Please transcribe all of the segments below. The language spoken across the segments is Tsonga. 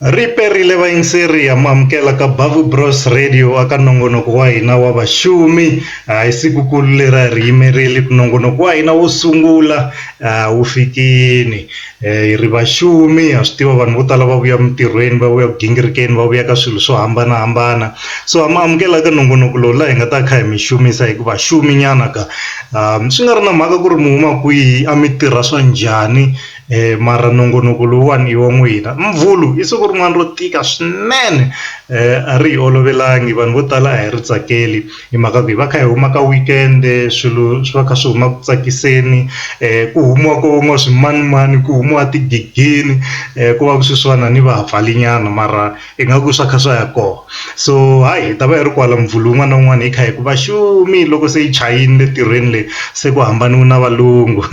Ri perile vayingiseri ha mu amukela ka Bavu Bros Radio aka nongonoko wa hina wa vaxumi hi sikukulu leri a ri yimerile ku nongonoko wa hina wo sungula wu fikini hi ri vaxumi ha swi tiva vanhu vo tala va vuya emintirhweni va vuya ku gingirikeni va vuya ka swilo swo hambanahambana so ha mi amukela ka nongonoko lowu laha hi nga ta kha hi mi xumisa hi ku vaxumi nyana ka. Swi nga ri na mhaka ku ri mi huma kwihi a mi tirha swa njhani mara nongonoko lowuwani i wa n'wina Mvhulu i siku rin'wani ro tika swinene a ri hi olovelangi vanhu vo tala a hi ri tsakeli hi mhaka ku hi va kha hi huma ka weekend swilo swi va kha swi huma ku tsakiseni ku humiwa ko nwa swimanimani ku humiwa tigegeni ku va ku swi swa na ni va vhali nyana mara. Ingaku swa kha swa ya kona so hayi hi ta va hi ri kwala Mvhulu wun'wana na wun'wana hi kha hi ku va xumi loko se yi chayini le tirhweni leyi se ku hambaniwi na valungu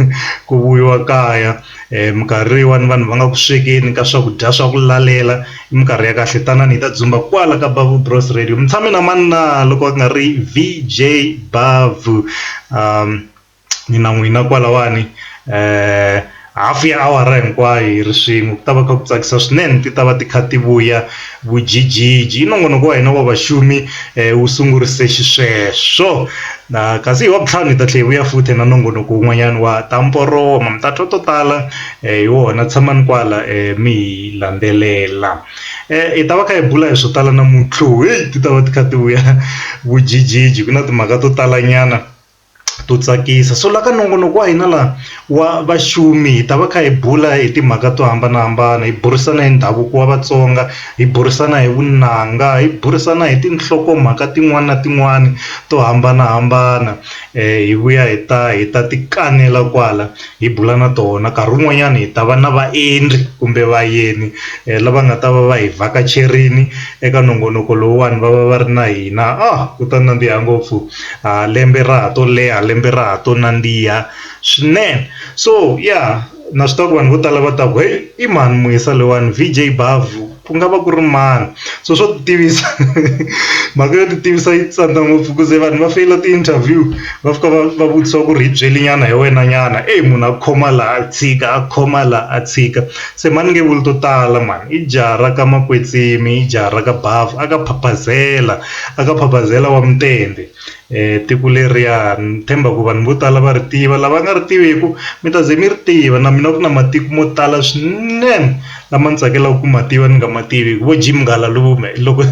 ku vuyiwa kaya minkarhi yin'wani vanhu va nga ku swekeni ka swakudya swa ku lalela i minkarhi ya kahle tanani hi ta dzumba kwala ka Bavhu Bros Radio mi tshame na mani na loko a ku nga ri V_J Bavhu . ni na n'wina kwalawani hafu ya awara hinkwayo hi ri swin'we ku ta va kha ku tsakisa swinene ti ta va ti kha ti vuya vujijiji i nongonoko wa hina wa vaxumi wu sungurise xisweswo na kasi hi wa vutlhanu hi ta tlhe hi vuya futhi na nongonoko wun'wanyana wa ta mporoma mi ta twa to tala hi wona tshamani kwala mi hi landzelela hi ta va kha hi bula hi swo tala namuntlha heyi ti ta va ti kha ti vuya vujijiji ku na timhaka to talanyana. to tsakisa so la ka nongonoko wa hina laha wa vaxumi hi ta va kha hi bula hi timhaka to hambanahambana hi burisana hi ndhavuko wa Vatsonga hi burisana hi vunanga hi burisana hi tinhlokomhaka tin'wani na tin'wani to hambanahambana hi vuya hi ta hi ta ti kanela kwala. hi bula na tona nkarhi wun'wanyana hi ta va na vaendli kumbe vayeni lava nga ta va va hi vhakacherile eka nongonoko lowuwani va va va ri na hina a ku ta nandziha ngopfu ha lembe ra ha to leha lembe ra ha to nandziha swinene so ya na swi tiva ku vanhu vo tala va ta ku heyi i mhani Muyisa loyiwani V_J Bavu. ku nga va ku ri mani so swo ti tivisa mhaka yo ti tivisa yi tsandza ngopfu ku ze vanhu va feyila ti interview va fika va va vutisiwa ku ri hi byeli nyana hi wena nyana eyi munhu a khoma laha a tshika a khoma laha a tshika se mhani ni nge vuli to tala mhani i jaha ra ka makwetsimi i jaha ra ka bavhu a ka phaphazela a ka phaphazela wa mutende. Tiko leriya ni tshemba ku vanhu vo tala va ri tiva lava nga ri tiviku mi ta ze mi ri tiva na mina ku na matiko mo tala swinene lama ndzi tsakelaka ku ma tiva ni nga ma tivi vo Jim Ngalalume loko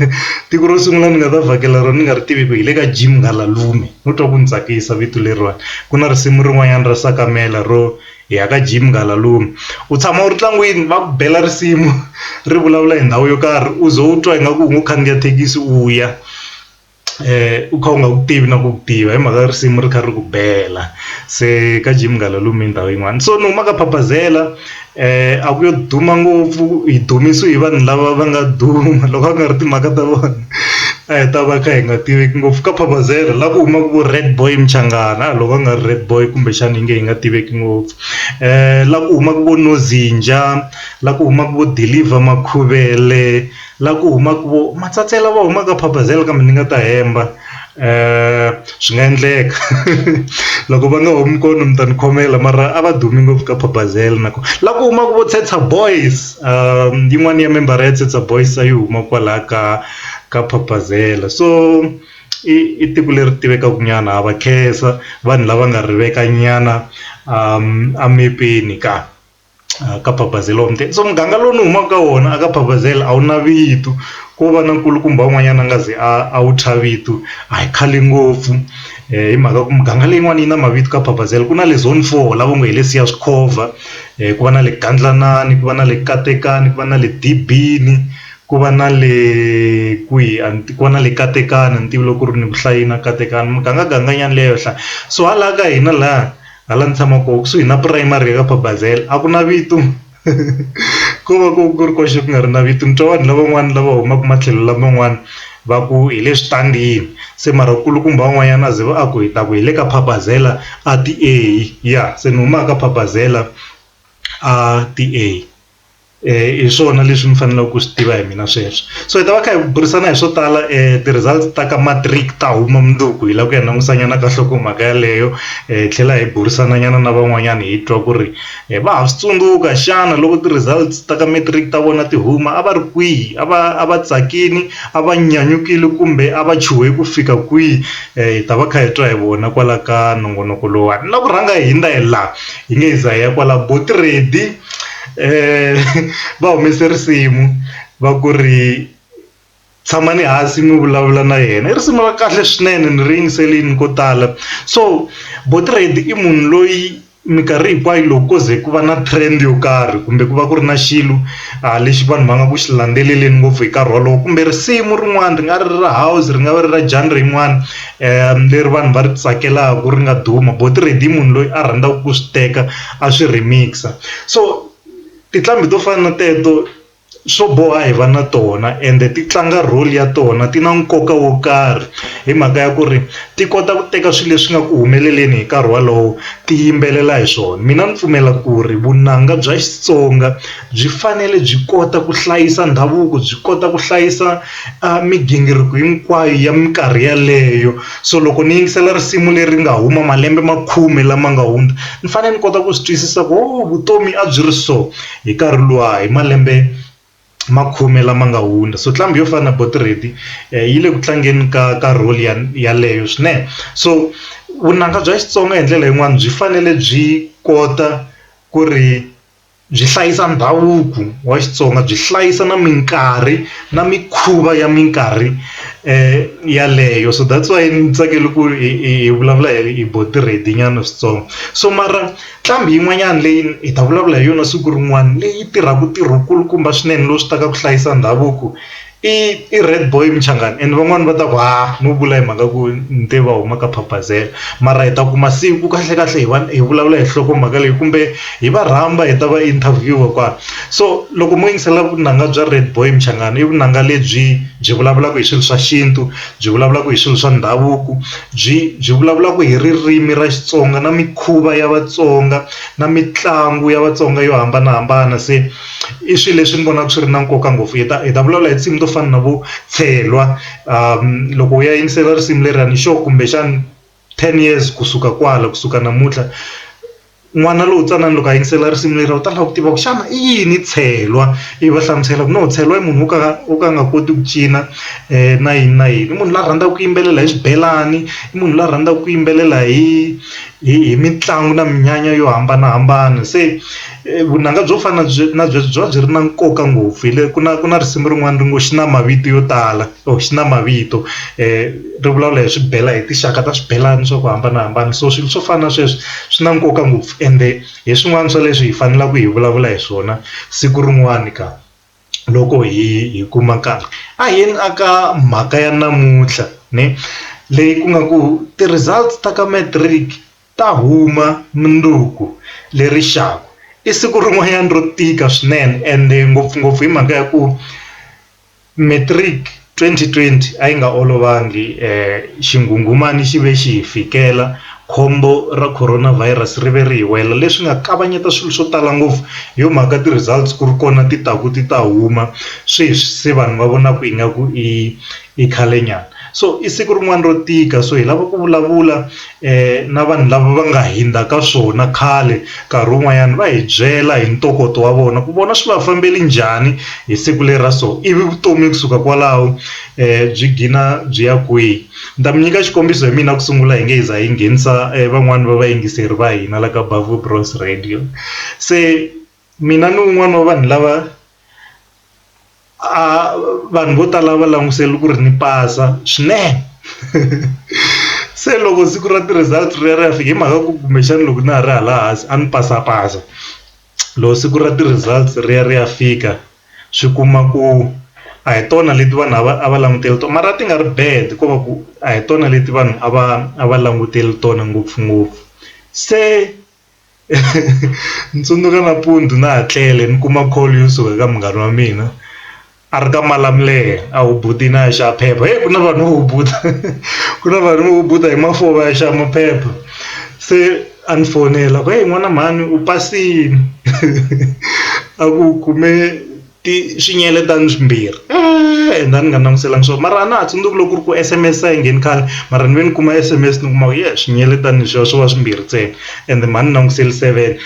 tiko ro sungula ni nga ta vhakela rona ni nga ri tiviku hi le ka Jim Ngalalume no twa ku ni tsakisa vito leriwani ku na risimu rin'wanyana ra Sakamela ro hi ya ka Jim Ngalalume u tshama u ri ntlangwini va ku bela risimu ri vulavula hi ndhawu yo karhi u ze u twa ingaku u ngo khandziya thekisi u ya. u kha u nga wu tivi na ku wu tiva hi mhaka risimu ri kha ri ku bela se ka Jim Gala lomu hi ndhawu yin'wana so ni huma ka Phapazela a ku yo duma ngopfu hi dumisiwe hi vanhu lava va nga duma loko a ku nga ri timhaka ta vona a hi ta va kha hi nga tiveki ngopfu ka Phapazela la ku humaka vo Red boy Mchangana a loko a nga ri Red boy kumbexana hi nge hi nga tiveki ngopfu la ku humaka vo Nozinja la ku humaka vo Dilliver Makhuvele. La ku humaka vo Matsatse lava humaka Phabazela kambe ni nga ta hemba swi nga endleka loko va nga humi kona mi ta ni khomela mara a va dumi ngopfu ka Phabazela na kona la ku humaka vo Tshetsa Boys yin'wana ya membara ya Tshetsa Boys a yi huma kwalaya ka ka Phabazela so i i tiko leri tivekaka nyana ha va khensa vanhu lava nga rivekanyana emepeni ka. a ka phaphazela wa muteka so muganga lowu ni humaka ka wona a ka phaphazela a wu na vito ko va na nkulukumba wun'wanyana a nga ze a wu thya vito a hi khale ngopfu hi mhaka ku muganga leyin'wani yi na mavito ka phaphazela ku na le zone four lava ngo hi le Siyazikhova ku va na le Gadlanani ku va na le Katekani ku va na le Dibini ku va na le kwihi a ni ku va na le Katekani a ni tivi loko ku ri ni vuhlayi na Katekani mugangaganga nyana leyo hlaya so hala ka hina laya. Hala ni tshama koho kusuhi na primary ya ka Babazela a ku na vito ko va ku ku ri koxe ku nga ri na vito ni twa vanhu lavan'wana lava humaka matlhelo laman'wana va ku hi le switandini se mara nkulukumba un'wanyana a ze va a ku hi ta ku hi le ka Babazela a ti a ya se ni humaka Babazela a ti a. hi swona leswi mi faneleke ku swi tiva hi mina sweswi so hi ta va kha hi burisana hi swo tala ti results ta ka matric ta huma mundzuku hi lava ku ya langusa nyana ka nhlokomhaka yaleyo hi tlhela hi burisana nyana na van'wanyana hi twa ku ri va ha swi tsundzuka xana loko ti results ta ka matric ta vona ti huma a va ri kwihi a va a va tsakile a va nyanyukile kumbe a va chuhe ku fika kwihi hi ta va kha hi twa hi vona kwala ka nongonoko lowuwani na ku rhanga hi ndlela. yi nge za ya kwala boat ready va humese risimu va ku ri tshamani hansi mi vulavula na yena i risimu ra kahle swinene ni ri yingiselini ko tala so boat ready i munhu loyi minkarhi hinkwayo loko ko ze ku va na trend yo karhi kumbe ku va ku ri na xilo a lexi vanhu va nga ku xi landzeleleni ngopfu hi nkarhi wolowo kumbe risimu rin'wana ri nga ri ra house ri nga va ri ra genre yin'wana. leri vanhu va ri tsakelaka ri nga duma bo ti-radio munhu loyi a rhandzaka ku swi teka a swi remix-a so tinqambi to fana na teto swo boha hi va na tona ende ti tlanga role ya tona ti na nkoka wo karhi hi mhaka ya ku ri ti kota ku teka swilo leswi nga ku humeleleni hi nkarhi wolowo ti yimbelela hi swona mina ni pfumela ku ri vunanga bya Xitsonga. byi fanele byi kota ku hlayisa ndhavuko byi kota ku hlayisa migingiriko hinkwayo ya minkarhi yaleyo so loko ni yingisela risimu leri nga huma malembe ma khume lama nga hundza ni fanele ni kota ku swi twisisa ku ho vutomi a byi ri so hi nkarhi luwa hi malembe ma khume lama nga hundza so nqambi yo fana na buti Reddy yi le ku tlangeni ka ka role ya yaleyo swinene so vunanga bya Xitsonga hi ndlela yin'wani byi fanele byi kota ku ri. byi hlayisa ndhavuko wa Xitsonga byi hlayisa na minkarhi na mikhuva ya minkarhi yaleyo so that's why ni tsakela ku ri hi vulavula hi bo ti-ready nyana switsongo so mara nqambi yin'wanyana leyi hi ta vulavula hi yona siku rin'wana leyi tirhaka ntirho kulukumba swinene lowu swi ta ka ku hlayisa ndhavuko I i red boy muchangani and van'wani va ta ku ha no vula hi mhaka ku ni te va huma ka phaphazela mara hi ta kuma siku kahle kahle hi va hi vulavula hi nhloko mhaka leyi kumbe hi va rhamba hi ta va interview kwala so loko mo yingisela vunanga bya red boy muchangani i vunanga lebyi byi vulavulaka hi swilo swa xintu byi vulavulaka hi swilo swa ndhavuko byi byi vulavulaka hi ririmi ra Xitsonga na mikhuva ya Vatsonga na mitlangu ya Vatsonga yo hambanahambana se. i swilo leswi ni vonaka swi ri na nkoka ngopfu hi ta hi ta vulavula hi tinsimu to fana na vo chelwa loko u ya yingisela risimu leriyani xo kumbexana ten years kusuka kwala kusuka namuntlha n'wana lowu ntsanana loko a yingisela risimu leriya u ta lava ku tiva ku xana i yini chelwa i va hlamusela ku no chelwa i munhu wo ka wo ka a nga koti ku cina na yini na yini i munhu la rhandzaka ku yimbelela hi swibelani i munhu la rhandzaka ku yimbelela hi hi hi mitlangu na minyanya yo hambanahambana se. vunanga byo fana na byi na byi byi va byi ri na nkoka ngopfu hi le ku na ku na risimu rin'wana ri ngo xi na mavito yo tala or xi na mavito ri vulavula hi swibelani hi tinxaka ta swibelani swa ku hambanahambana so swilo swo fana na sweswi swi na nkoka ngopfu ende hi swin'wana swa leswi hi faneleke hi vulavula hi swona siku rin'wani ka loko hi hi kuma nkarhi a hi yeni a ka mhaka ya namuntlha ni leyi ku nga ku ti-results ta ka matric. Ta huma mundzuku leri xaku. I siku rin'wanyana ro tika swinene ende ngopfungopfu hi mhaka ya ku matric 2020 a yi nga olovangi xinghunghumani xi ve xi hi fikela khombo ra Corona Virus ri ve ri hi wela leswi nga kavanyeta swilo swo tala ngopfu hi yo mhaka ti results ku ri kona ti taku ti ta huma sweswi se vanhu va vonaku ingaku i I khale nyana so i siku rin'wana ro tika so hi lava ku vulavula na vanhu lava va nga hindza ka swona khale nkarhi wun'wanyana va hi byela hi ntokoto wa vona ku vona swi va fambeli njhani hi siku leri ra so ivi vutomi kusuka kwalaho byi gina byi ya kwihi ni ta mi nyika xikombiso hi mina ku sungula hi nge hi za hi nghenisa van'wani va vayingiseri va hina la ka Bavhu Bros Radio se. mina ni un'wana wa vanhu lava a vanhu vo tala va langusele ku ri ni pasa swinene se loko siku ra ti-results ri ya ri ya fika hi mhaka ku kumbexana loko na ha ri hala hansi a ni pasapasa loko siku ra ti-results ri ya ri ya fika swi kuma ku a hi tona leti vanhu a va a va langutele tona mara a ti nga ri bad ko va ku a hi tona leti vanhu a va a va langutele tona ngopfungopfu se. ni tsundzuka nampundzu na ha tlele ni kuma call yo suka eka munghana wa mina a ri ka Malamulele a hubutini a ya xava phepha heyi ku na vanhu vo hubuta ku na vanhu vo hubuta hi mafoni va ya xava maphepha se a ni fonela ku heyi n'wana mhani u pasini a ku kume. ti swinyele ta ni swimbirhi eeh, and a ni nga languselanga swona mara a na ha tsundzuki loko ku ri ku sms a yi ngheni khale mara ni ve ni kuma sms ni kuma ku ye swinyele ta ni swo swo va swimbirhi ntsena and mhani ni languseli seven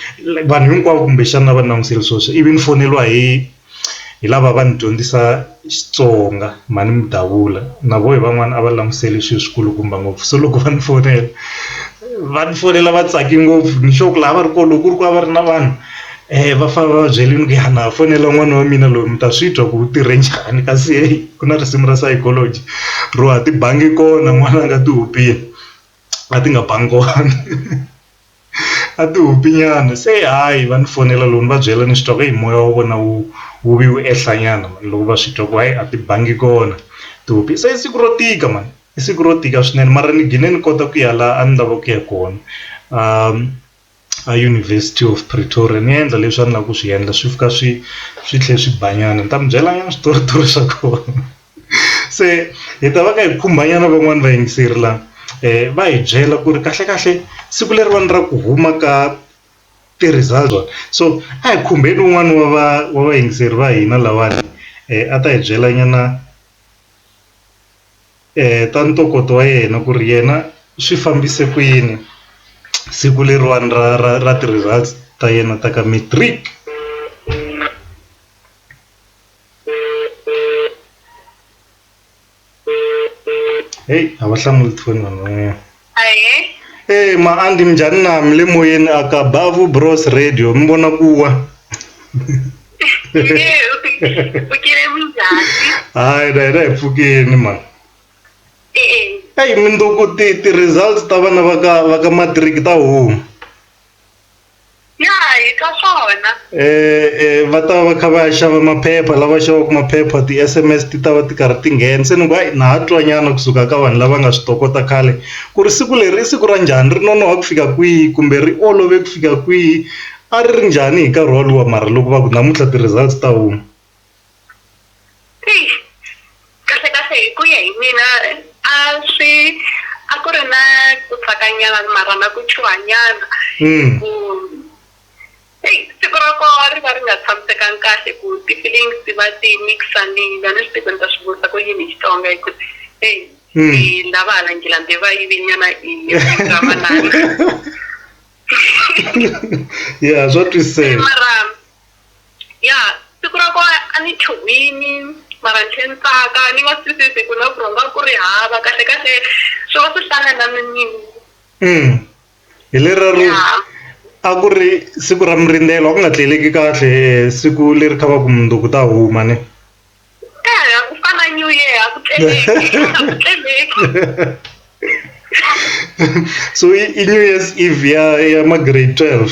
vanhu hinkwavo kumbexana a va ni languseli swo swi ivi ni foneriwa hi hi lava va ni dyondzisa Xitsonga mhani Mudavula na voho hi van'wana a va languseli swilo swi kulukumba ngopfu se loko va ni fonela va ni fonela va tsake ngopfu ni sure ku lava va ri kona loko ku ri ku a va ri na vanhu. Eya va fane va va byela ni ku ya na ha fonela n'wana wa mina loyi mi ta swi twa ku u tirhe njhani kasi heyi ku na risimu ra psychology ro a ti bangi kona n'wana a nga ti hupile a ti nga bangi kona a ti hupi nyana se hayi va ni fonela loko ni va byela ni swi twa ku heyi moya wa vona wu wu vi wu ehla nyana mani loko va swi twa ku hayi a ti bangi kona tihopi se i siku ro tika mani i siku ro tika swinene mara ni gine ni kota ku ya la a ni lava ku ya kona . a University of Pretoria ni endla leswi a ni lava ku swi endla swi fika swi swi tlhe swi ba nyana ni ta mi byela nyana switoritori swa kona se hi ta va ka hi khumba nyana van'wani va yingiseri la va hi byela ku ri kahle kahle siku leriwani ra ku huma ka ti-result so a hi khumbeni wun'wani wa va wa vayingiseri va hina lawani a ta hi byela nyana ta ntokoto wa yena ku ri yena swi fambise ku yini siku leriwani ra ra ra ti-results ta yena ta ka matric heyi a va hlamuli tifoni vanhu van'wanyana. Ahe. Ee ma andi minjhani na mi le moyeni a ka Bavu Bros Radio mi vona ku wa Nge, u pfukile minjhani? hayi na hina hi pfukeni mani E e. eyi mindzuku ti ti-results ta vana va ka va ka matric ta huma Ya hi twa swona. Eh va ta va kha va ya xava maphepha lava xavaka maphepha ti-S_M_S ti ta va ti karhi ti nghena se ni ku hayi na ha twa nyana kusuka ka vanhu lava nga swi tokota khale ku ri siku leri i siku ra njhani ri nonoha ku fika kwihi kumbe ri olove ku fika kwihi a ri ri njhani hi nkarhi wolowo mara loko va ku namuntlha ti-results ta huma. kahle kahle hi ku ya hi mina a swi a ku ri na ku tsakanyana mara na ku chuhanyana hmm. ku siku ra koho ri va ri nga tshamisekanga kahle ku ti-feelings ti va ti mixanile a ni swi tivi ni ta swi vutisa ku yini hi xitsonga hi ku e hmm. lava hala ngilambe va yivinyana i ramanani ya swa twiseka ya siku ra kona a ni chuhwini mara ni tlhe ni tsaka ni nga swi twisisi ku na ku rhonga ku ri hava kahle kahle swi va swi hlangana ni nini mm. hi lerero a ku ri siku ra mirindzelo a ku nga tleleki kahle siku leri kha va ku munduku ta huma ne eya eh, ku fana new year a ku tleleki so i new year's eve ya ya ma grade twelve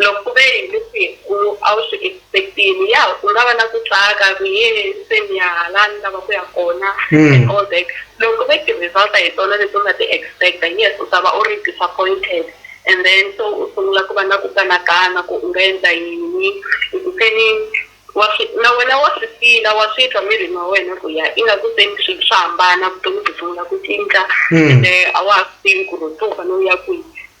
Loko ku ve hi misiku a wu swi expect-ini ya u nga va na ku tsaka ku yee se ni ya hala ni lava ku ya kona and all that loko ku ve ti-result a hi tona leti u nga ti expect-a yes u ta va u ri disappointed and then se u sungula ku va na ku kanakana ku u nga endla yini hi ku se ni wa swi na wena wa swi feel-a wa swi twa mirini wa wena ku ya ingaku se ni swilo swa hambana vutomi byi sungula ku cinca ende a wa ha swi tivi ku ri se u fane u ya kwihi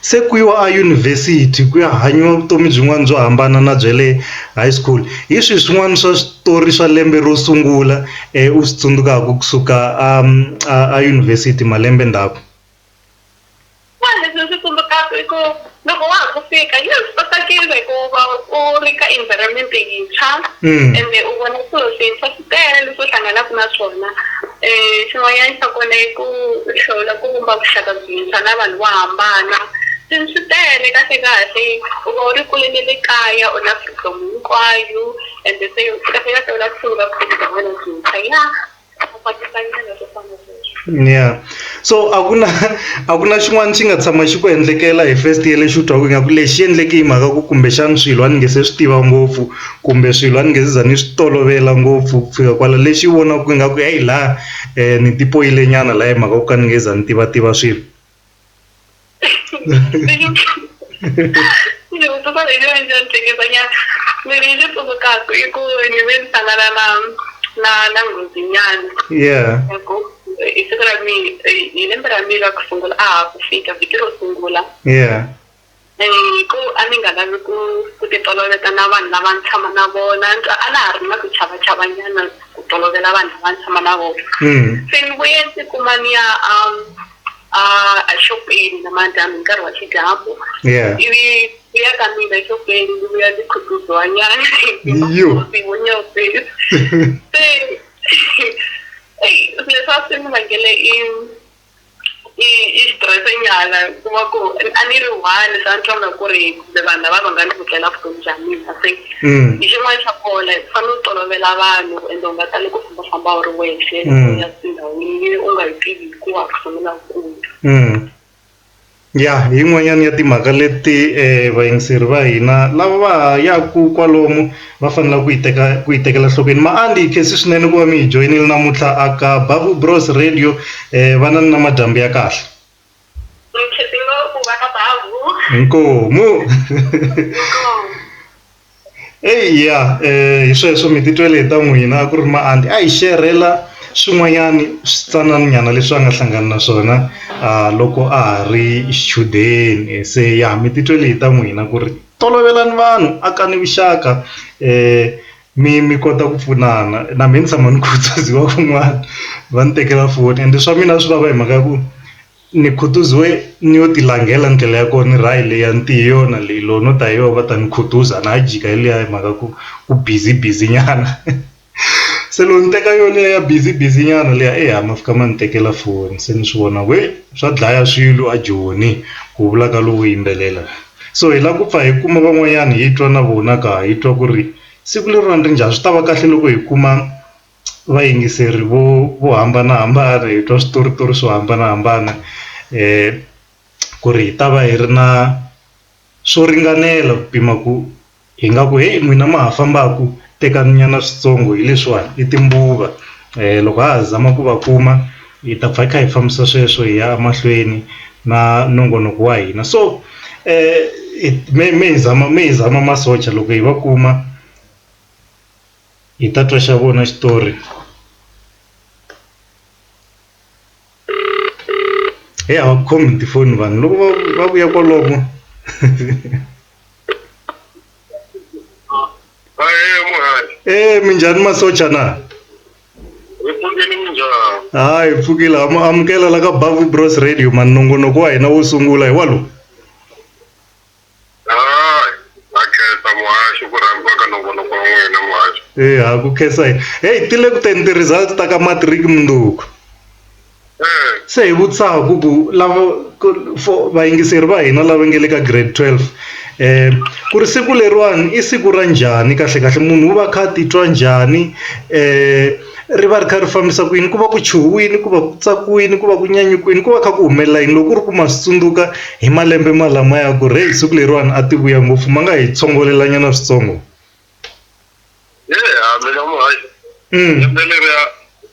Se ku yiwa a yunivhesiti ku ya hanyiwa vutomi byin'wana byo hambana na bya le high school hi swihi swin'wana swa switori swa lembe ro sungula u swi tsundzukaka kusuka a a a yunivhesiti malembe ndzhaku. Leswi tsundzukaka i ku loko wa ha ku fika yi swi tsakisa hikuva u ri ka environment yintshwa ende u vona swilo swintshwa. tele leswi u hlanganaka na swona um xin'wanyana xa kona i ku hlawula ku vumba vuxaka byintshwa na vanhu vo hambana swilo swi tele kahle kahle u va u ri kule ne le kaya u na freedom hinkwayo ende se kahle kahle u la ku sungula vutomi bya wena byintshwa ya . ya so a ku na a ku na xin'wana xi nga tshama xi ku endlekela hi first year lexi u twaku ingaku lexi endleke hi mhaka ku kumbexana swilo a ni nge se swi tiva ngopfu kumbe swilo a ni nge se za ni swi tolovela ngopfu ku fika kwala lexi vonaku ingaku heyi la ni tipoyile nyana la hi mhaka ku ka ni nge za ni tivativa swilo. ni vutisa leyi ni endla ni hleketanyana ni ri ni tsundzukaku i ku ni ve ni hlangana na na na nghozinyana yeah hi siku ra mina hi lembe ra mina ra ku sungula a ha ku fika vhiki ro sungula yeah hi ku a ni nga lavi ku ku ti toloveta na vanhu lava ni tshama na vona a na ha ri na ku chava chava nyana ku tolovela vanhu lava ni tshama na vona se ni vuye ndzi kuma ni ya a a exopeni namadyambi hi nkarhi wa xidyambu ivi ku ya ka mina exopeni ndzi vuya ndzi khutuzwa nyana wo nyopeni se leswi a swi ni vangele i i i xitirese nyana ku va ku a ni ri one se a ni twanga ku ri kumbe vanhu lava va nga ni kutlela vutomi bya mina se hi xin'wana xa kona u fanele u tolovela vanhu ende u nga tali ku fambafamba u ri wexe ya tindhawini leyi u nga yi tivi hikuva ku sungula kulu. Ya hi yin'wanyana ya timhaka leti vayingiseri va hina lava va ha yaka kwalomu va faneleke ku yi teka ku yi tekela nhlokweni Maanti hi khensa swinene ku va mi hi joyinile namuntlha a ka Bavu Bros Radio va na ni na madyambu ya kahle mi khensa ngopfu va ka Bavu inkomu inkomu. Eya hi sweswo mi titwele hi ta n'wina a ku ri maanti a hi xerhela swin'wanyani switsanana nyana leswi a nga hlangana na swona loko a ha ri xichudeni se ya mi titwele hi ta n'wina ku ri tolovelani vanhu akani vuxaka mi mi kota ku pfunana na me ni tshama ni khutaziwa van'wani va ni tekela foni ende swa mina a swi vava hi mhaka ya ku. Ni khutuziwe ni yo ti langhela ndlela ya kona ni ri hayi leya ni te hi yona leyi loko no ta hi yona va ta ni khutuza a na ha yi jika hi liya hi mhaka ku ku busy busy nyana se loko ni teka yona liya ya busy busy nyana liya eya ma fika ma ni tekela foni se ni swi vona ku he swa dlaya swilo a joni ku vula ka lowo yimbelela so hi lava ku pfa hi kuma van'wanyana hi twa na vona ka hi twa ku ri siku leriwani ri njhani swi ta va kahle loko hi kuma. vayingiseri vo vo hambanahambana hi twa switoritori swo hambanahambana ku ri hi ta va hi ri na swo ringanela ku pima ku hi nga ku heyi n'wina ma ha fambaku tekani nyana switsongo hi leswiwani i timbuva loko ha ha zama ku va kuma hi ta pfa hi kha hi fambisa sweswo hi ya emahlweni na nongonoko wa hina so me me hi zama me hi zama masocha loko hi va kuma. hi ta twa xa vona xitori he a va ku khomi hi tifoni vanhu loko va va vuya kwalomo e minjhani masocha na hayi pfukile ha mu amukela la ka bavu bros radio mani nongonoko wa hina wo sungula hi walowo Hayi, ha khensa muhaxi ku rhandziwa ka nongonoko wa n'wina muhaxi. Eh ha ku khensa hi. Hey ti le ku teni ti-results ta ka matric mundzuku. Eh. Se hi vutisaka ku ku lava ku for vayingiseri va hina lava nge le ka grade twelve ku ri siku leriwani i siku ra njhani kahlekahle munhu u va a kha a titwa njhani . ri va ri kha ri fambisa ku yini ku va ku chuhiwile ku va ku tsakiwile ku va ku nyanyukiwile ku va kha ku humelela yini loko ku ri ku ma swi tsundzuka hi malembe ma lamaya ku ri heyi siku leriwani a ti vuya ngopfu ma nga hi tsongolela nyana switsongo lembe leriya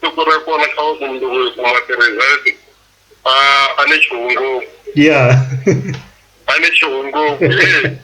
siku ra kona kha va ku mundzuku hi kuma ti-result a a ni chuhi ngopfu ya a ni chuhi ngopfu.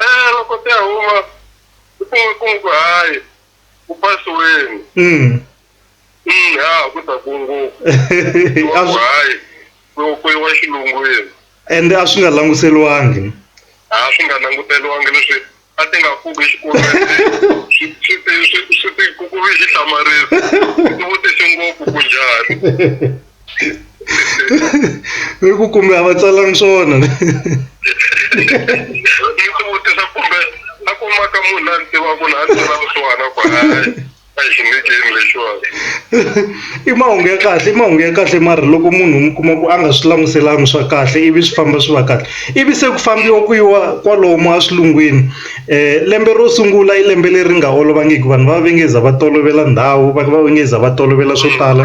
Eh loko ti ya huma u kuma ku n'wi ku hayi u pasiweni mm. mm, ha ku ta ku ngopfu hayi ku yiwa xilungwini and a swi nga languteriwangi a swi nga languteriwangi leswi a ti nga pfuki exikolweni swi ti ku ku vi xihlamarisi ti vutise ngopfu ku njhani i ku kumbe a va tsalangi swona ni ti vutisa kumbe a kumaka munhu la ni tivaku la a ni tsala vusiwana ku a xi nge ceni lexiwani i mahungu ya kahle i mahungu ya kahle mara loko munhu mi kuma ku a nga swi languselanga swa kahle ivi swi famba swi va kahle ivi se ku fambiwa ku yiwa kwalomu a swilungwini um lembe ro sungula i lembe leri nga olovangiki vanhu va va va nge za va tolovela ndhawu va va nge za va tolovela swo tala.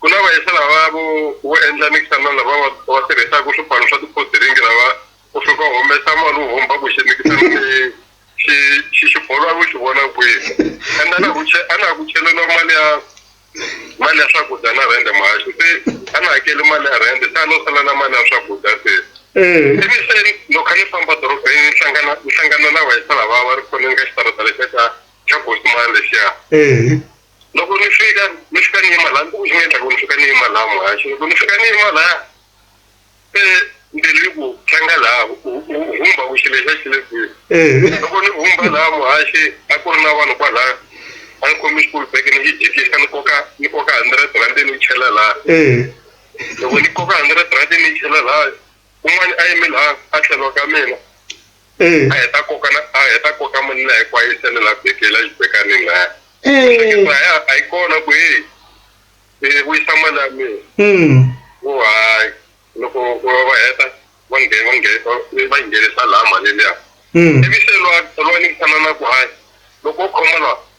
Ku na vayisa lava vo vo endla mikisano lava va va tirhisaka swipano swa tiphosiringi lava u fika u humesa mali u homba ku xi mikisano leyi xi xi xi bolo a ku xi vona kwihi and a na ku a na ku cheleriwa mali ya mali ya swakudya na rhende mahaxi se a na hakeli mali ya rhende se a no sala na mali ya swakudya se ivi se loko kha ni famba dorobeni ni hlangana ni hlangana na vayisa lava va ri khoneni ka xitarata lexiya xa xa gosimani lexiya loko ni fika ni fika ni yima laha ni endla ku ni fika ni yima laha muhaxi loko ni fika ni yima laha se mbilu yi ku tlanga laha humba ku xilo xa xile kwihi eh. loko ni humba laha muhaxi a ku ri na vanhu kwalaya a ni khomi xikulu beke ni yi jikisa ni koka ni koka hundred rand ni yi chela laha eh. loko ni koka hundred rand ni yi chela laha un'wana a yime laha a tlhelo ka mina Eh. a heta koka na a heta koka mali la hinkwayo yi sele la beke la yi beka ni nga Eh. a ya a yi kona ku hey eh vuyisa mali ya mina Mm. wo hayi loko va va heta va nge va nge va yi nghenisa laha mali liya Mm. ivi se lwa lwa ni tshama na ku hayi loko u khoma lwa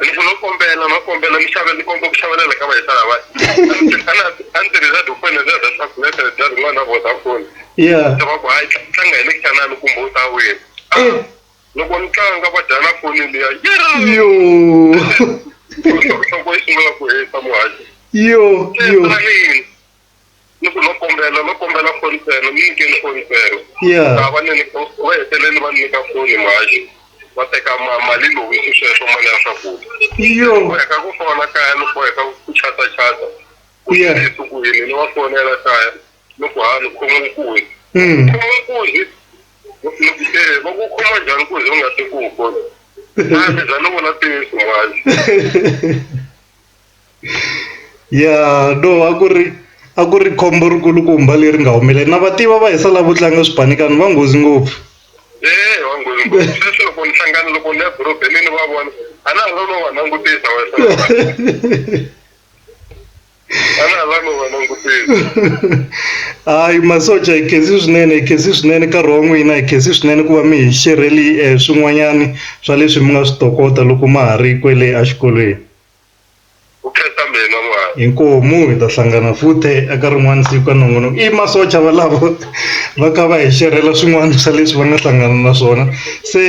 Loko no kombela no kombela mi xavela ni komba ku xavelela ka vayisa lava a ni tirhisa dofoni za za swaku leta ni bya rin'wana na Vodafone yeah va ku hayi tlanga hi le xanani kumbe u ta wina eh. loko ni tlanga va dya na foni liya yo loko yi sungula ku heta muhaxi yo yo ni ku no kombela no kombela foni ntsena mi nyikeni foni ntsena Yeah. laha va ni va hetelele va ni nyika foni mhaxi va teka ma- mali lowu i sweswo mali ya swakudya iyo boheka ku fona kaya ni boheka ku chata chata ku ye Yeah. esukwini ni va fonela kaya ni ku hani khoma nkuzi Mm. khoma nkuzi ni ku se va ku khoma njhani nkuzi u nga se ku wu fona a ni za ni vona ntiyiso mhaxi Ya no a ku ri a ku ri khombo ri kulukumba leri nga humelela na va tiva va hisa lavo tlanga swipanikani va nghozi ngopfu eya va nghozi ngopfu sweswi loko ni hlangana loko ni ya dorobeni ni va vona a na ha lavi no va langutisa va hisa a na ha lavi no va langutisa hayi masocha hi khensi swinene hi khensi swinene nkarhi wa n'wina hi khensi swinene ku va mi hi xerheli swin'wanyani swa leswi mi nga swi tokota loko ma ha ri kwele a xikolweni. Vukreste mi hina mwana. Inkomu hi ta hlangana futhi eka rin'wana siku ka nongonoko i masocha valavo va ka va hi xerhela swin'wana swa leswi va nga hlangana na swona se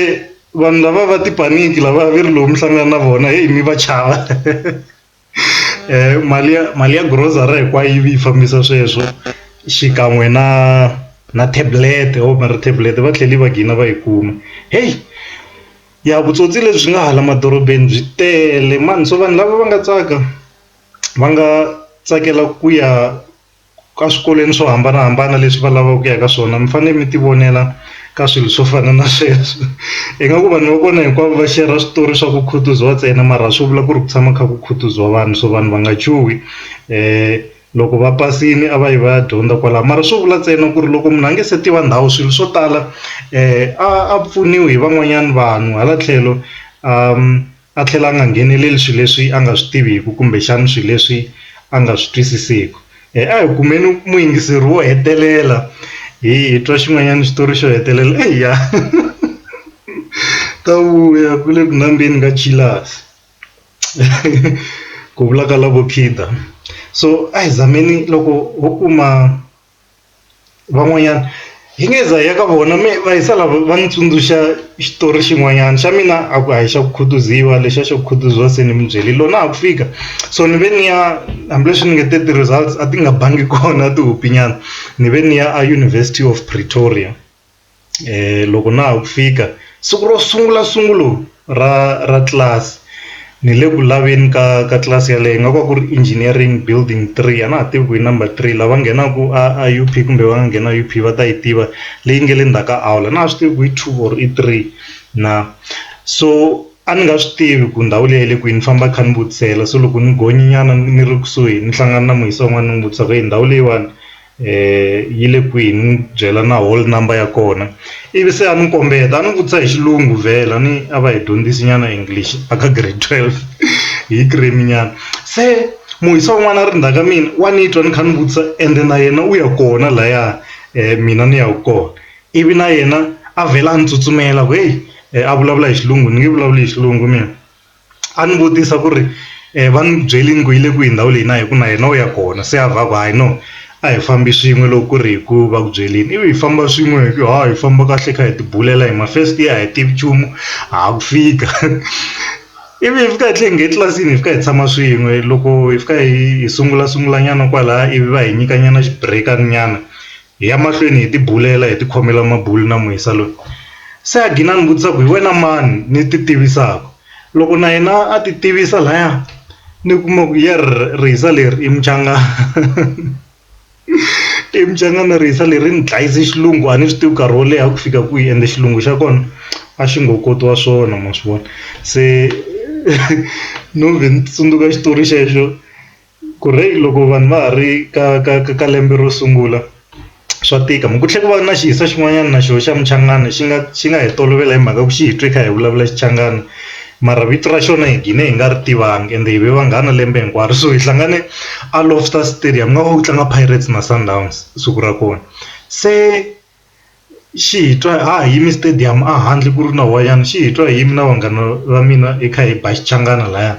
vanhu lava va tipaniki lava va ri lowu mi hlangana na vona heyi mi va chava um mali ya mali ya grocery hinkwayo yi vi yi fambisa sweswo xikan'we na na tablet o mara tablet va tlhela va gina va yi kuma heyi. ya vutsotsi lebyi nga hala madorobeni byi tele mani so vanhu lava va nga tsaka va nga tsakela ku ya ka swikolweni swo hambanahambana leswi va lavaka ku ya ka swona mi fanele mi ti vonela ka swilo swo fana na sweswo hi nga ku vanhu va kona hinkwavo va share-ra switori swa ku Khutuzowa ntsena mara a swi vula ku ri ku tshama kha ku Khutuzowa vanhu so vanhu va nga chuhi . Loko va pasini a va yi va ya dyondza kwala mara swo vula ntsena ku ri loko munhu a nge se tiva ndhawu swilo swo tala a a pfuniwi hi van'wanyana vanhu hala tlhelo a tlhela a nga ngheneleli swilo leswi a nga swi tiviku kumbexana swilo leswi a nga swi twisisiku a hi kumeni muyingiseri wo hetelela hi hi twa xin'wanyana xitori xo hetelela eya ta vuya ku le ku nambeni ka jealous. ku vula ka lavo khida so a hi zameni loko ho kuma van'wanyana hi nge za hi ya ka vona me va hi sala va ni tsundzuxa xitori xin'wanyana xa mina a ku a hi xa ku khutuziwa lexiya xa ku khutuziwa se ni mi byele lona a ku fika so ni ve ni ya hambileswi ni nge te ti-results a ti nga bangi kona tihopinyana ni ve ni ya a University of Pretoria. loko na ha ku fika siku ro sungula sungula ra ra class ni le ku laveni ka ka tlilasi yaleyo ingaku a ku ri engineering building three a na ha tivi ku i number three lava nghenaku a a U_P kumbe va nga nghena U_P va ta yi tiva leyi nge le ndzhaku ka aula a na ha swi tivi ku i two or i three na so a ni nga swi tivi ku ndhawu leyi yi le kwini ni famba ni kha ni vutisela so loko ni gonyi nyana ni ri kusuhi ni hlangana na muhisi wa n'wani ni n'wi vutisa ku heyi ndhawu leyiwani. yi le kwihi ni n'wi byela na hole number ya kona ivi se a ni kombeta a ni vutisa hi xilungu vhela ni a va hi dyondzisi nyana English a ka grade twelve hi cream nyana se muhisa un'wana a ri ndzhaka mina wa ni twa ni kha ni vutisa ende na yena u ya kona laya mina ni ya kona ivi na yena a vhela a ni tsutsumela ku heyi a vulavula hi xilungu ni nge vulavuli hi xilungu mina. a ni vutisa ku ri va ni byerile ku yi le kwihi ndhawu leyi na hi ku na yena u ya kona se a va ku hayi no a hi fambi swin'we loko ku ri hi ku va ku byerile ivi hi famba swin'we hi ku ha hi famba kahle hi kha hi ti bulela hi mafesiti a hi tivi nchumu ha ku fika ivi hi fika hi tlhe hi nghena etlilasini hi fika hi tshama swin'we loko hi fika hi hi sungula sungula nyana kwalaya ivi va hi nyika nyana xibireka nyana Hi ya mahlweni hi tibulela, hi tikhomela mabulu na muisa loyi. Se a gina a ni vutisa ku, Hi wena mani ni titivisaka? Loko na yena a titivisa laya, ni kuma ku, Yerr, rihisa leri i muchangana. I muchangana rihisa leri, ri ni dlayise xilungu a ni swi tivi nkarhi wo leha ku fika kwihi ende xilungu xa kona a xi ngo kotiwa swona ma swi vona. Se no vhe ni tsundzuka xitori xexo. Ku ri loko vanhu va ha ri ka ka ka ka lembe ro sungula swa tika ku tlhela ku va na xiyisa xin'wanyana na xona xa muchangana xi nga xi nga hi tolovela hi mhaka ku xi hi twi hi kha hi vulavula xichangani mara vito ra xona hi gine hi nga ri tivanga ende hi ve vanghana lembe hinkwaro so hi hlangane a loftus stadium ingaku a ku tlanga pirates na sundowns siku ra kona se. Xi hi twa ha ha yimi stadium a handle ku ri na wayeni xi hi twa hi yimi na vanghana va mina hi kha hi ba xichangani laya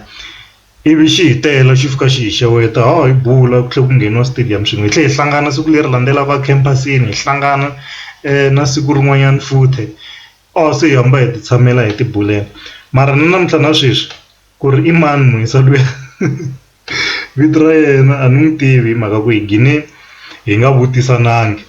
ivi xi hi tela xi fika xi hi xeweta ha ha yi bula ku tlhela ku ngheniwa stadium swin'we hi tlhela hi hlangana siku leri landzelaka a khempasin-i hi hlangana na siku rin'wanyana futhi or se hi hamba hi ti tshamela hi ti bulela mara na namuntlha na sweswi ku ri i mani Muyisa luya vito ra yena a ni n'wi tivi hi mhaka ku hi gine hi nga vutisanangi.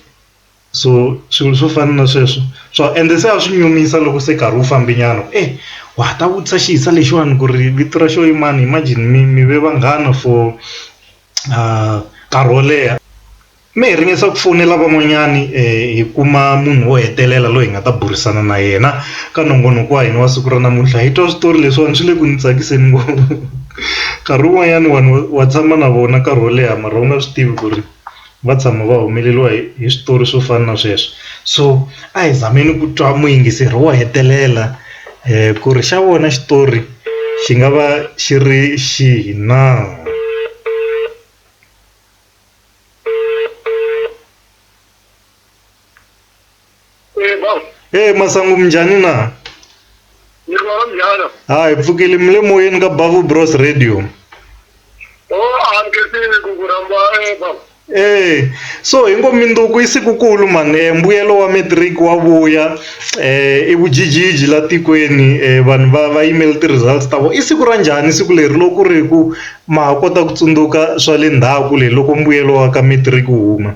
so swilo swo fana na sweswo swa ende se a swi nyumisa loko se nkarhi wu fambe nyana ku e wa ha ta vutisa xi hisa lexiwani ku ri vito ra xo i mani imagine mi mi ve vanghana for nkarhi wo leha me hi ringesa ku fonela van'wanyani hi kuma munhu wo hetelela loyi hi nga ta burisana na yena ka nongonoko wa hina wa siku ra namuntlha hi twa switori leswiwani swi le ku ni tsakiseni ngopfu nkarhi wun'wanyani vanhu wa tshama na vona nkarhi wo leha mara u nga swi tivi ku ri. va tshama va humeleriwa hi hi switori swo fana na sweswo so a hi zameni ku twa muyingiseri wo hetelela ku ri xa vona xitori xi nga va xi ri xihi na. Eh, ba. hey masangu minjhani na Ni rwala mjana. ha hi pfukile mi le moyeni ka bavu bros radio Oh, amkesini kukuramba eh ba. Eh, so hingo minduku i sikukulu mani eh, mbuyelo wa matric wa vuya eh, i vujijiji la tikweni eh, vanhu va va yimele ti-results ta vona i siku ra njhani siku leri loko ku ri ku ma ha kota ku tsundzuka swa le ndhaku le loko mbuyelo wa ka matric wu huma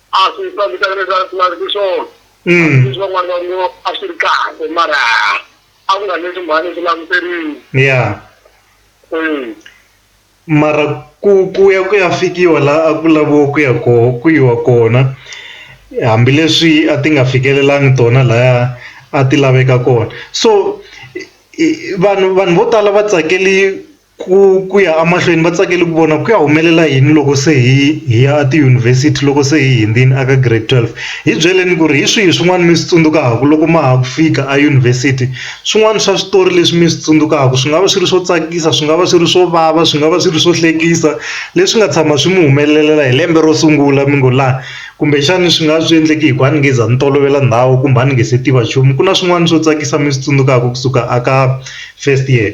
a swi fambisani leswi a swi laveki swona Mm. leswi van'wana va ngo a swi ri kahle mara a ku nga leswi mhani swi languteriwe ya Eh, mara ku ku ya ku ya fikiwa la a ku laviwa ku ya ko ku yiwa kona hambileswi a ti nga fikelelangi tona laya a ti laveka kona so i- i- vanhu vanhu vo tala va tsakeli Ku ku ya emahlweni va tsakele ku vona ku ya humelela yini loko se hi hi ya etiyunivhesiti loko se hi hundzile eka grade 12 hi byeleni ku ri hi swihi swin'wana mi swi tsundzukaka loko ma ha ku fika eyunivhesiti swin'wana swa switori leswi mi swi tsundzukaka swi nga va swi ri swo tsakisa swi nga va swi ri swo vava swi nga va swi ri swo hlekisa leswi nga tshama swi mi humelelela hi lembe ro sungula mi ngo laha kumbexana swi nga swi endleke hi ku a ni nge za ni tolovela ndhawu kumbe a ni nge se tiva nchumu ku na swin'wana swo tsakisa mi swi tsundzukaka kusuka eka first year.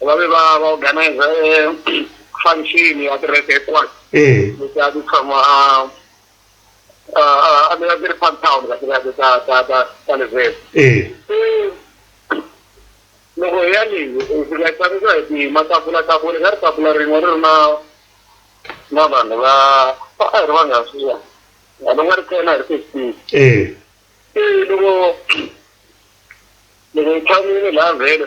va ve va va organize function ya kereke hinkwayo eh. leti a ti tshama a ti a ti ri park town ka tiraka ta ta ta ta levhele eh. loko hi ya leyi hi fika hi tsakisiwa hi tima tafula tafula ka ri tafula rin'we ri ri na na vanhu va a hi ri vanghana sweswiwani vanhu nga ri kena hi ri fifteen eh. loko loko hi tshamile laha vhele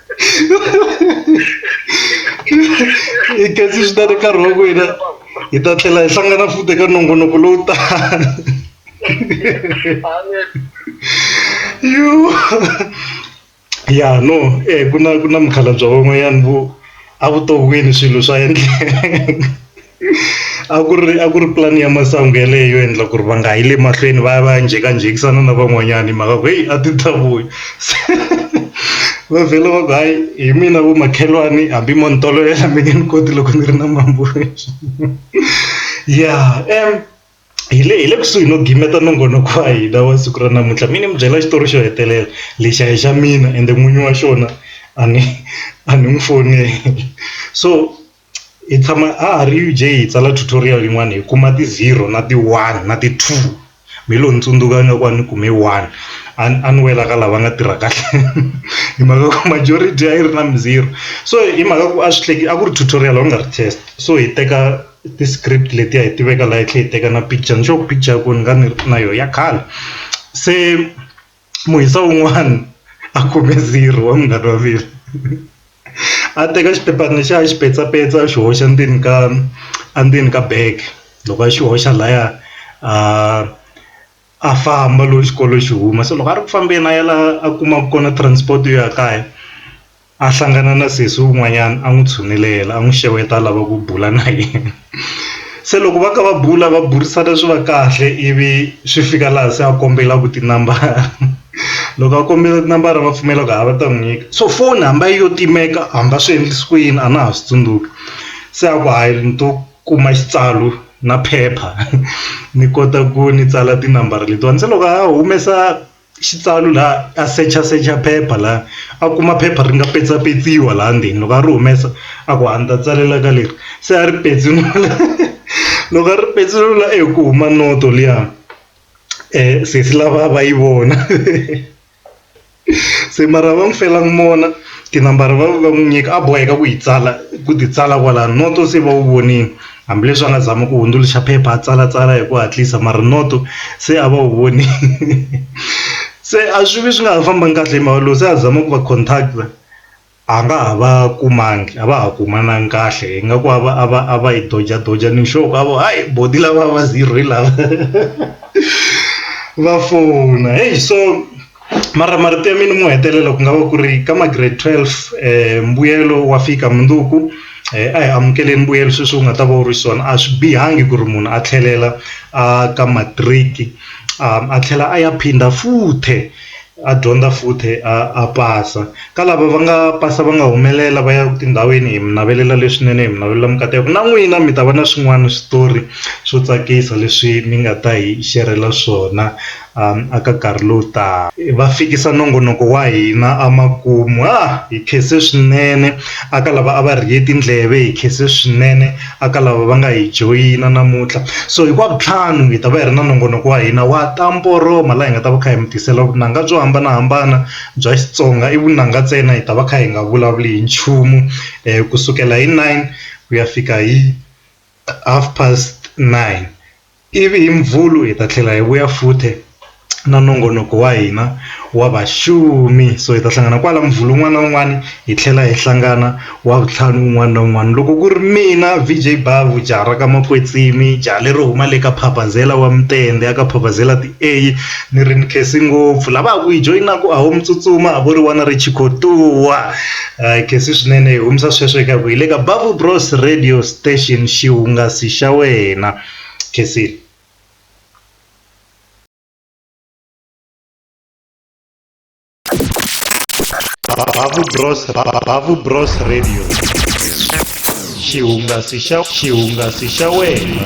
i kasi swi ta ri nkarhi wa ku hina hi ta tlhela hi hlangana futi eka nongonoko lowu tano yu ya no e ku na ku na mukhalabye van'wanyana vo a vuton'wini swilo swa endleka a ku ri a ku ri pulani ya masangu yaleyo yo endla ku ri va nga yi le mahlweni va ya va ya njhekanjhekisana na van'wanyana hi mhaka ku heyi a ti ta vuya se va vhela va ku hayi hi mina vo makhelwani hambi mo ni tolovela mi nge ni koti loko ni ri na mambula ya hi le hi le kusuhi no gimeta nongonoko wa hina wa siku ra namuntlha mi ni mi byela xitori xo hetelela lexi a hi xa mina ende n'winyi wa xona a ni a ni n'wi fonela so. hi tshama a ha ri Eugene hi tsala tutorial yin'wana hi kuma ti zero na ti one na ti two me lo ni tsundzuka nga ku a ni kume one a a ni wela ka lava nga tirha kahle hi mhaka ku majority a yi ri na mi zero so hi mhaka ku a swi hleketa a ku ri tutorial u nga ri test so hi teka ti script letiya hi tiveka laha hi tlhela hi teka na picture ni sure ku picture ya kona ni nga ni ri na yona ya khale se. muhisa wun'wana a khome zero wa munghana wa mina a teka xiphephana lexiya a xi petsapetsa a xi hoxa ndzeni ka endzeni ka bag loko a xi hoxa laya a a famba loyi xikolo xi huma se loko a ri ku fambeni a ya la a kumaka kona transport yo ya kaya. a hlangana na sesi un'wanyana a n'wi tshunelela a n'wi xeweta a lava ku bula na yena se loko va kha va bula va burisana swi va kahle ivi swi fika laha se a kombela ku tinambara loko a kombela tinambara va pfumela ku ha va ta n'wi nyika so foni hambi a yo timeka hambi a swi endlise ku yini a na ha swi tsundzuki se a ku hayi ni to kuma xitsalu na phepha ni kota ku ni tsala tinambara letiwani se loko a humesa xitsalu la a secha secha phepha la a kuma phepha ri nga petsapetsiwa laha ndzeni loko a ri humesa a ku a ni ta tsalela ka leri se a ri petsinula loko a ri petsinula e ku huma noto liya um sesi lava va yi vona se mara va n'wi fela mona tinambara va va n'wi nyika a boheka ku yi tsala ku ti tsala kwala noto se va wu vonile. Hambileswi a nga zama ku hundzuluxa phepha a tsalatsala hi ku hatlisa mara noto se a va wu vonile se a swi vi swi nga ha fambangi kahle hi mhaka loko se a zama ku va contact a nga ha va kumangi a va ha kumananga kahle ingaku a va a va a va yi doja doja ni sure ku a vo hi boti lava va zero hi lava va fona heyi so. mara marito ya mina mo hetelela ku nga va ku ri ka ma grade 12 mbuyelo wa fika mundzuku a hi amukeleni mbuyelo sweswi u nga ta va u ri xiswona a swi bihangi ku ri munhu a tlhelela a ka matric a tlhela a ya phinda futhe a dyondza futhe a pasa ka lava va nga pasa va nga humelela va ya tindhawini hi mi navelela leswinene hi mi navelela mikateko na n'wina mi ta va na swin'wana switori swo tsakisa leswi mi nga ta hi xerhela swona. aka nkarhi lowu taka. Va fikisa nongonoko wa hina amakumu. Ha! Hi khense swinene aka lava a va rhiye tindleve, hi khense swinene aka lava va nga hi joyina namuntlha. So hi ku wa vutlhanu hi ta va hi ri na nongonoko wa hina wa ta mporoma laha hi nga ta va kha hi mi tisela vunanga byo hambanahambana bya Xitsonga, i vunanga ntsena hi ta va kha hi nga vulavuli hi nchumu ku sukela hi nine ku ya fika hi half past nine. Ivi hi Mvhulu hi ta tlhela hi vuya futhe na nongonoko wa hina wa vaxumi so hi ta hlangana kwala Mvhulu un'wana na un'wana hi tlhela hi hlangana Wavuntlhanu un'wana na un'wana loko ku ri mina VJ Bhavhu jaha ra ka Makwetsimi jaha lero huma le ka Phabazela wa Mutende a ka Phabazela ti a ni ri ni khensi ngopfu lava ha ku hi joyinaku a ho mi tsutsuma a vo ri wana ri chikhotuwa. Hi khensi swinene hi humesa sweswo eka ku hi le ka Bavu Bros radio station xihungasi xa wena khensile. Bavu Bros Bavu Bros radio xihungasi xa xihungasi xa wena.